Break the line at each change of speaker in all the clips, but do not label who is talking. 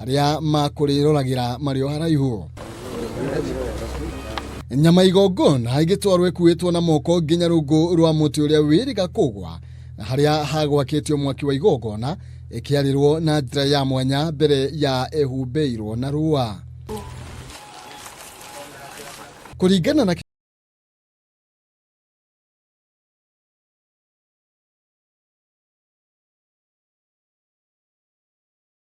arĩa makũrĩroragĩra marĩ o haraihu nyama igongona ĩgĩtwarwo ĩkuĩtwo na moko nginya rungu rwa mũtĩ ũrĩa wĩrĩga kũgwa na harĩa hagwakĩtio mwaki wa igongona ĩkĩarĩrwo na njĩra ya mwanya mbere ya ĩhumbĩirwo na rũa kũringana na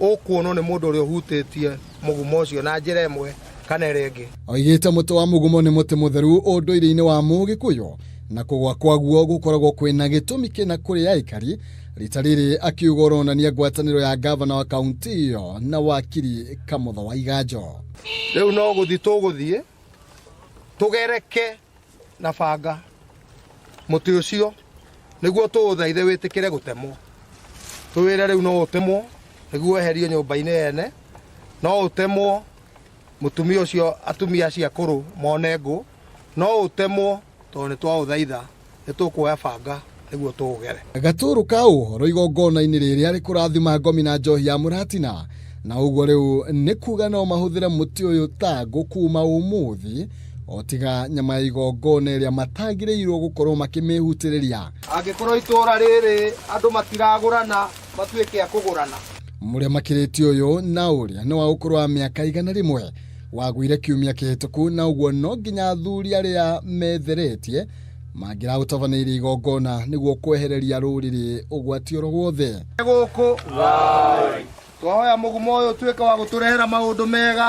ũkuonwo nĩ mũndũ ũrĩa ũhutĩtie mũgumo ũcio na njĩra ĩmwe kana ĩrĩa ĩngĩ oigĩte mũtĩ wa mũgumo
nĩ mũtĩ mũtheru ũndũire-inĩ wa mũgĩkũyũ na kũgwa kwaguo gũkoragwo kwĩna gĩtũmi kĩna kũrĩ aikari rita rĩrĩ akiuga ũronania ngwatanĩro ya ngavana wa kaunti ĩyo na wakiri kamũtha wa iganjo rĩu no
gũthiĩ tũgũthiĩ tũgereke na banga muti ucio niguo tuuthaithe witikire gutemwo tuwire riu no utemwo niguo eherio nyumba-ini ene no utemwo mutumia ucio atumia acio akuru mone ngũ no utemwo tondu ni twauthaitha ni tukuoya banga nĩguo tũũgere gatũrũ ka ũhoro
igongona-inĩ rĩrĩa rĩkũrathima ngomi na njohi ya mũratina na ũguo rĩu nĩ kuga no mahũthĩre mũtĩ ũyũ ta ngũ kuma ũmũthĩ o tiga nyama ya igongona ĩrĩa matagĩrĩirwo gũkorwo makĩmĩhutĩrĩria angĩkorwo itũũra
rĩrĩ andũ matiragũrana matuĩke a kũgũrana mũrĩa makĩrĩtie
ũyũ na ũrĩa nĩ wa ũkũrũ wa mĩaka igana rĩmwe wagũire kiumia kĩhĩtũku na ũguo no nginya athuri arĩa metheretie mangĩra ũtabanĩire igongona nĩguo kwehereria rũrĩrĩ ũgwati oro guothe gũkũ
twahoya mũgumo ũyũ ũtuĩke wa gũtũrehera maũndũ mega